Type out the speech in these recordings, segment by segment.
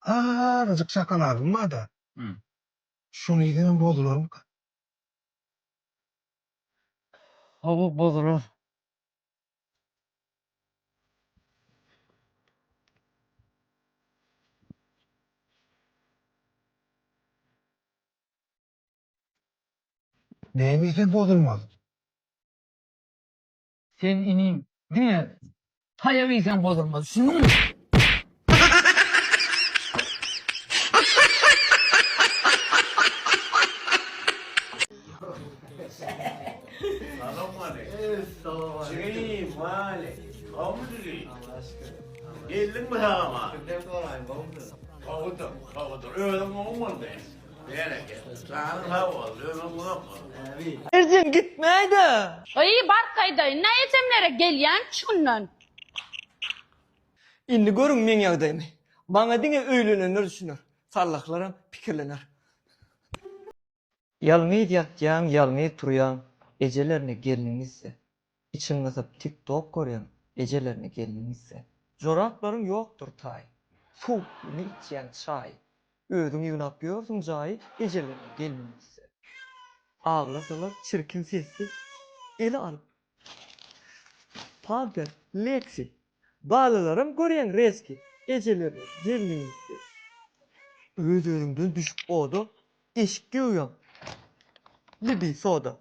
Azajyk şokoladym bar-da. Hum. Şony iýsem hem bozularmyka? Hawa, bozular. Näme iýsem bozulmaz? Sen inim diňe taýak iýseň bozulmaz düşüniň. Berekella. Janyň sag bolsun, ömrüň uzak bolsun. Erjen gitmäýdä. Gyýw barkaýdaýyn da esemlere gelýän şundan. Indi görüň meň ýagdaýymy. Maňa diňe öýlenenler düşüner. Sallaklaram pikirlener. Ýalňyz ýatýaň ýalňyz turýaň ejelerine gelniňizde Içiň gysyp tik tok görýän ejelerine gelniň gitse. Joraplaryň ýokdur taýy. Sowuklygyny içýäň çaýy. Özüň ýygnap ýörsüň jaýy ejelerine gelniň gitse. Aglasalar çirkin sesli ele alyp pamper leksi. Balalaram görýäň rezki ejelerine gelniň gitse. Öz-özüňden düşüp oda eşik geoýaň libi soda.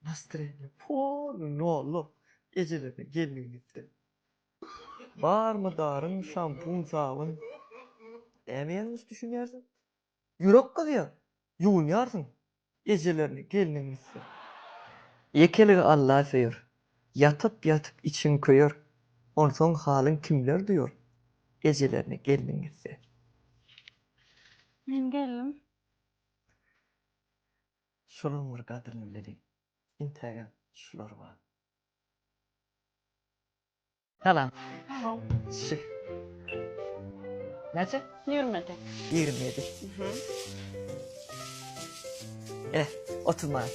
Nastreniýa poly nollar ejelerine gelmegin etdim. Barmy daryň şampun sabyn näme ýalňyş düşünýärsiň. Ýürek gyzýar ýuwunýarsyň ejelerine gelniň gitse. Ýekeligi Alla söýer ýatyp ýatyp içiň köýer onsoň halyň kimler duýar ejelerine gelniň gitse. Men geldim. Şolaň bir gadryny bileliň. Entägem şular bar. Salam. Şi. Näçe? Ýigrimi ýedi. Ýigrimi ýedi. Ene, otuz manat.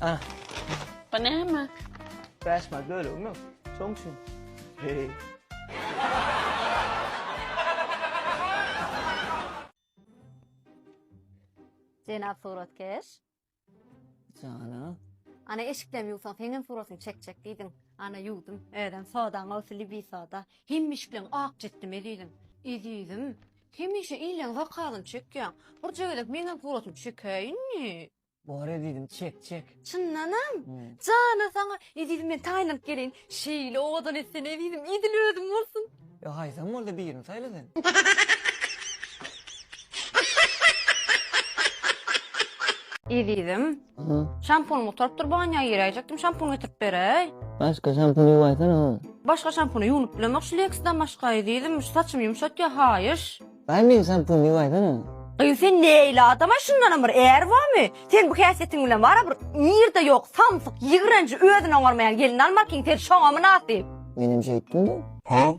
Ah. Bu näme? Bäş mal bölegim ýok. Şoň üçin. Heý. Jenap suratkeş. Jana. Ana eşiklem ýuwsaň, seňem suratyny çekjek diýdim. Ana ýuwdum. Özem sodaň olsa libi soda. Hemmişikleň ak jitdime diýdim. Ezizim, Hemişe ileň zakazyny çekýäň. Birje gezek meňem suratymy çekäýiň ýe. Bor ezizim çek çek. Çyndanam? Jana saňa ezizim men taýynyp geleýin. Şeýle owadan etsen ezizim idil özüm bolsun. Ýa haýsam bolsa birini saýla sen. Ezizim. Aha. Şampun gutaryp dur bu anya ýeräýjekdim şampun getirip beräý. Başka şampun ýuwaýsana oň. Başga şampun ýuwnup bilemok şu leksdan başga ezizim şu saçymy ýumşatýa haýyş. Baý meň şampun ýuwaýsana oň. Gyz sen neýli adamaý şundanam bir är bormy sen bu häsiýetiň bilen wara bir nirde ýok samsyk ýigrenji özüni oňarmaýan gelin almarkiň sen şoňa mynasyp. Menem şeýtdim de. Huh?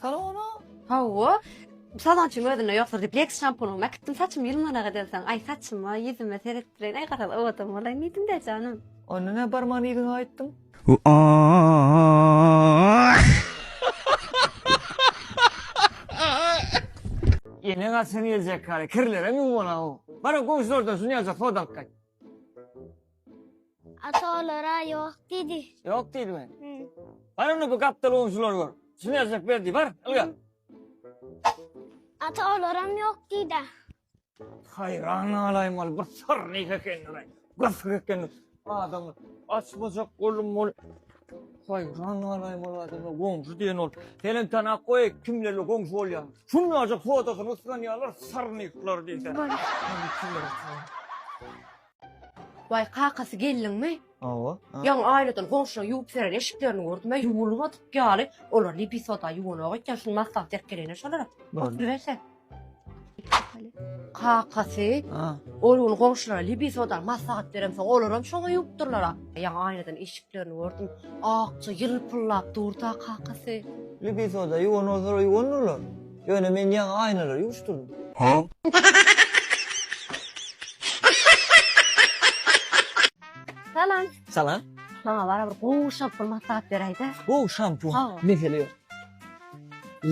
Salona. Hawa. Salonçyň özünde ýokdur diýip, Lex şampunymy äkitdim, saçym ýylmanak edensoň, aý saçyma, ýüzüme seretdireýin, aý garaz owadam bolaýyn diýdim-dä janym. Onda nä barmagyny ýüzüňe aýtdyň? Ýene gaçan geljek galy, kirlerem ýuwmanak-ow. Bar-a goňşylardan şuny ýaljak soda alyp gaýt. Ata olara ýok diýdi. Ýok diýdimi? Bar onda bu gapdal gunçlary gör. Şuny ýazjak ber diý, bar, ylgar. Ata olaram ýok diýdi. Haýran galaýma ol bir syrny ekeni-le. Gysyk ekeni. Adamlar açmajak bolum ol. Goý, janalaý bolady, goňşy diýen ol. Senem tana goý, kimlerle goňşy bolýaň. Şunlarca fotosyny ysganýarlar, sarnyklar diýse. Waý, kakasy gelniňmi? Hawa. Ýaňy aýladan goňşulaň ýuwup seren eşiklerini gördüm, ýuwulmadyk ýaly. Olar libisoda ýuwunak ekýän, şuny maslahat berip gelene şolara. Oturyberse. Kakasy ol gün goňşulara libisoda maslahat beremsoň, olaram şoňa ýuwupdyrlar-a. Ýaňy aýnadan işiklerini gördüm. Akja ýylpyldap durdy-a kakasy. Libisoda ýuwan bolsalar ýuwandyrlar. Ýöne men ýaňy aýnalary ýuwuşdyrdym. Salam. Salam. Maňa bara bir gowy şampun maslahat beräýdä. Gowy şampun. Hawa. Mesele ýok.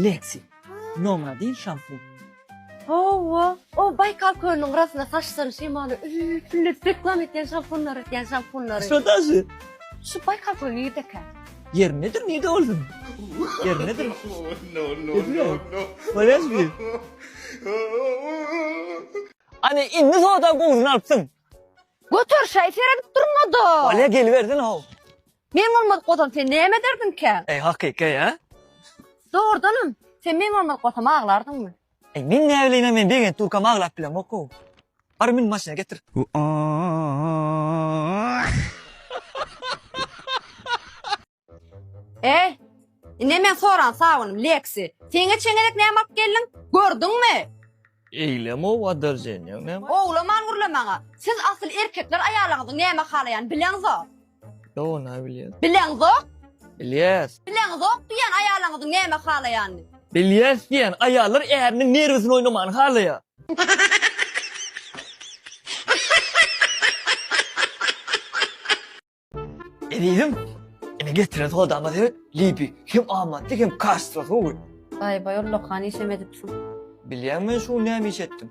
Lexi. Nomra diýl şansly. Hawa, o Baýkal kölüniň gyrasynda saçlary şemaly üýütgünlejip reklam etýän şampunlar edýän şampunlary. Şo daşy. Şu Baýkal köli nirde ekan? Ýeri nedir nirde bolsun? Ýeri nedir? Edile. Bolýas bi. Hany indi soda gowusyny alypsyň. Göter şaý seredip durma-da. Bolýa gelibersin how. Men bolmadyk bolsam sen näme ederdiňkä? Eý hakyky a? Dogrudanam, sen men bolmadyk bolsam aglardyňmy? Eý men näbileýin-ä men begent durkam aglap bilemok-ow. Bar mün maşyna getir. Eý, ine men soran sabynym, Leksi. Seňňe çeňňelek näme alyp geldiň? Gördüňmi? Eýlem-ow adarjeniýaň näme? Owlaman gürle maňa. Siz asyl erkekler aýalyňyzyň näme halaýany bileňiz-a. Ýoga näme bilýäs? Bileňzok? Bilýäs. Bileňzok diýýän aýalyňyzyň näme halaýanyny. Bilýäs diýýän aýallar äriniň nerwisini oýnamany halaýar. Ezizim, ine getiren sodama seret, Libi hem amatly hem kaştda suwy. Baý-baý, ullakan işem edipsiň. Bilýäň men şu gün näme iş etdim?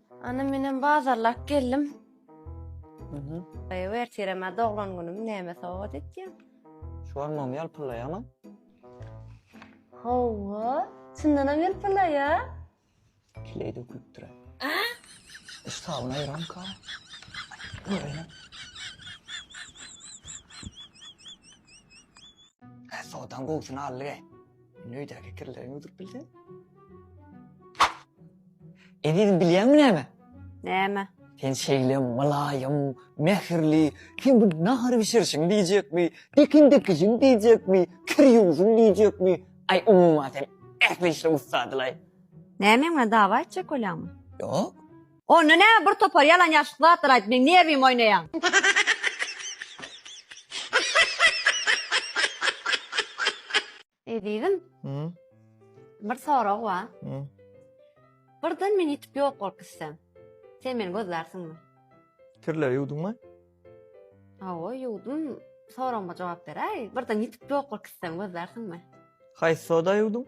Ana menem bazarlap geldim. Mhm. Ew ertireme doglan günüm näme sowgat etýäň? Şu an mom ýalpylaýama. Hawa, çyndanam ýalpylaýa. Kileý dökülipdir. Iş tabyna ýörämka. Görýä. Hä, sodan gowusyny aldy ge. Meni öýdäki kirleriň öldürip bildi. Eziz bilýäňmi näme? Näme? Sen şeýle mylaýym, mähirli, kim bu nahar bişirişiň diýjekmi, dikin dikijiň diýjekmi, kir ýuwujuň diýjekmi, aý umuman sen ähli işde ussadylaý. Näme meň bilen dawa etjek bolýaňmy? Ýok. Onda näme bir topar ýalan ýaşyk zatlar aýdyp meň nerwimi oýnaýaň. Ezizim. Bir sorag bar. Birden men ýitip ýok bolup gitsem. Sen meni gözlärsiňmi? Kirleri ýuwduňmy? Hawa, ýuwdum. Soragyma jogap beräý. Birden ýitip ýok bolup gitsem gözlärsiňmi? Haýsy soda ýuwduň?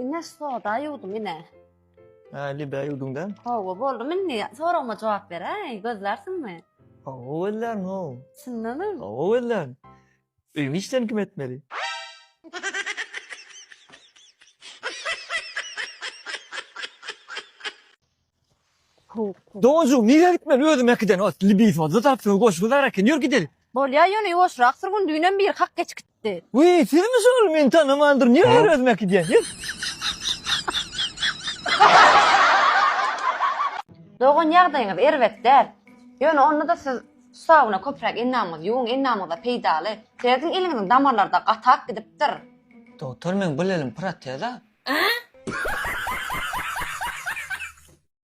Ine soda ýuwdum ine. Äli bä ýüwdüň däl. Hawa, boldum indi. Soragyma jogap beräý, gözlärsiňmi? Hawa, gözlän ho. Çyndanam? Hawa, gözlän. Öýüň işlerini kim etmeli? Dojum, nirä gitmeli? Özüm ekiden ot, libis ot, zatap söw goşgy zar eken. Ýör gideli. Bolýa, ýöne ýuwaşrak sür gün düýnem biri hak geçik. Wiý, sizmi şol? Men tanaman durun. Nirä ýöri özümi äkidýän? Dogan ýagdaýyňyz erbet däl. Ýöne onda-da siz sauna köpräk endamyňyzy ýuwuň, endamyňyza peýdaly. Serediň eliňiziň damarlary-da gatap gidipdir. Dogtor meň bir elim proteza.